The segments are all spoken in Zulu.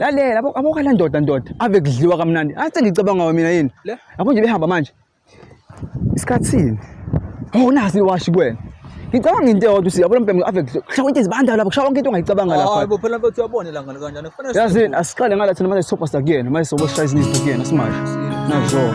lalela yabo yabo kala ndoda ndoda ave kudliwa kamnandi athi ngicabanga ngawe mina yini Le? yabo nje behamba manje isikhathini oh nasi liwashi kuwena ngicabanga into eyodwa usi yabo lo mbhemu ave kudliwa kushawa into ezibanda lapho kushawa into ongayicabanga lapha Hayi bo phela mfethu uyabona la ngane kanjani kufanele yazini asiqale ngala thina manje sopa sakuyena manje soboshaya izinto kuyena simanje nazo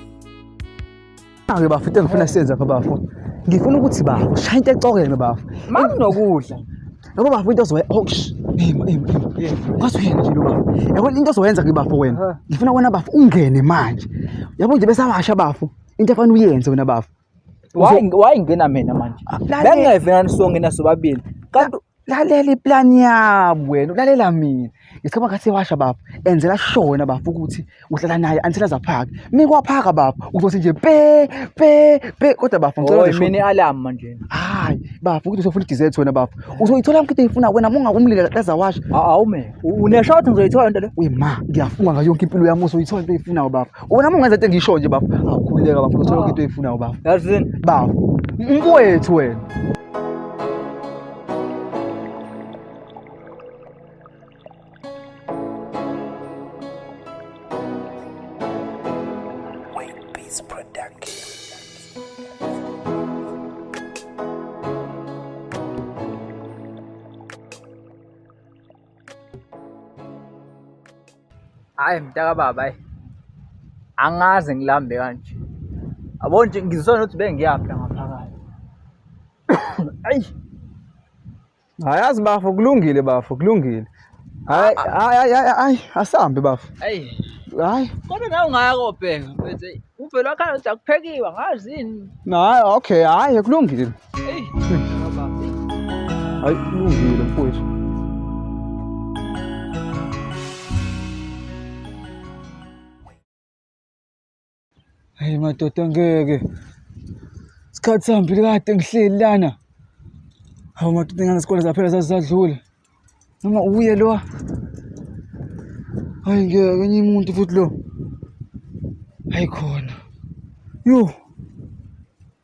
Ake bafo into engifuna siyenze lapha bafo. Ngifuna ukuthi bafo shaya into ecokeme bafo. Makunokudla. Yabo bafo into ozoyenza hosh. Ema ema ema. Kwazi uyena nje lo bafo. Yabo into ozoyenza ke bafo wena. Aha. Ngifuna wena bafo ungene manje. Yabo nje besawasha bafo. Into efana uyenze wena bafo. Wayi wayi ngena mina manje. Ah, lalela. Bengeve nani sonke nasobabili. Kanti lalela iplani yabo wena ulalela mina ngesikhathi ngathi washa baba enzela shona baba ukuthi uhlala naye until azaphaka mina kwaphaka baba uzothi nje pe pe pe kodwa baba ngicela Oy, mina i-alarm manje hayi baba ukuthi usofuna i-dessert wena baba uzoyithola mkhithi uyifuna wena munga umlile kaza washa awume unesho ukuthi ngizoyithola into le we ma ngiyafunga ngayo yonke impilo yami uzoyithola into oyifunayo baba wena mungenza into engisho nje baba awukhululeka baba uzothola yonke into oyifunayo baba yazini baba mfowethu wena hayi mntakababa hayi angaze ngilambe kanje yabo nje ngizisona ukuthi bengiyaphi la ngaphakathi Ayi. Hayazi bafo kulungile bafo kulungile. Hayi hayi hayi asambe bafo. Ayi. Hayi. Kodwa nawe ungayako bheka mfethu. Uvela khaya ukuthi akuphekiwa ngazi yini. Hayi okay hayi kulungile. Hey. Hayi kulungile mfowethu. Hayi madoda ngeke. Isikhathi sihambile kade ngihleli lana. Hawu madoda ingane isikole zaphela zazisadlula. Noma uye lo. Hayi ngeke enye umuntu futhi lo. Hayi khona. Yho.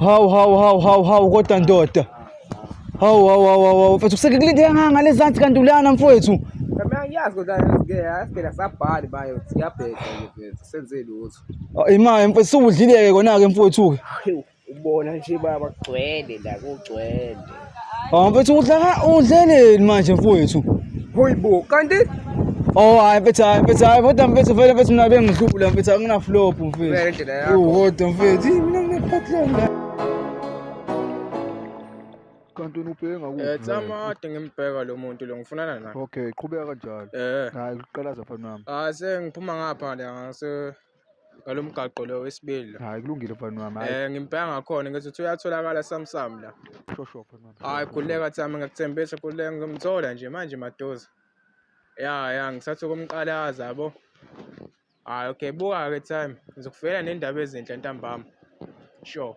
Hawu hawu hawu hawu hawu kodwa ndoda. Hawu hawu hawu hawu mfethu kusekulindeka nganga ngalezansi kanti ulana mfowethu. Mina ngiyazi kodwa ngeke yasigela sabhali bayo siyabheka mfethu senze lutho. Ah, Imali mfethu suwudlileke kona ke mfowethu ke. Ubona nje baba kugcwele la kugcwele. Oh, mfethu udla ka udleleni manje mfowethu. Hoy bo, kanti Oh, hayi mfethu, hayi mfethu, hayi kodwa mfethu vele mfethu mina bengihlula mfethu akuna flop mfethu. Vele indlela yakho. Uhodwa mfethu, Ih, mina nginephatlanga. kanti wena ubheke Eh, ngakuphi vele? Tsamade ngimbheka lo muntu lo ngifunana naye. okay qhubeka kanjalo Eh. hayi uqalaza mfana wami Ah sengiphuma ngapha la ngase ngalo mgaqo lo wesibili la hayi kulungile mfana wami hayi eh ngimpela ngakhona ngithi uthi uyatholakala samsam la shosho mfana wami hayi kuleka thami ngakuthembisa kuleka ngimthola nje manje madoza ya ya ngisathu kumqalaza yabo hayi okay buka ke time ngizokufela nendaba ezinhle ntambama sure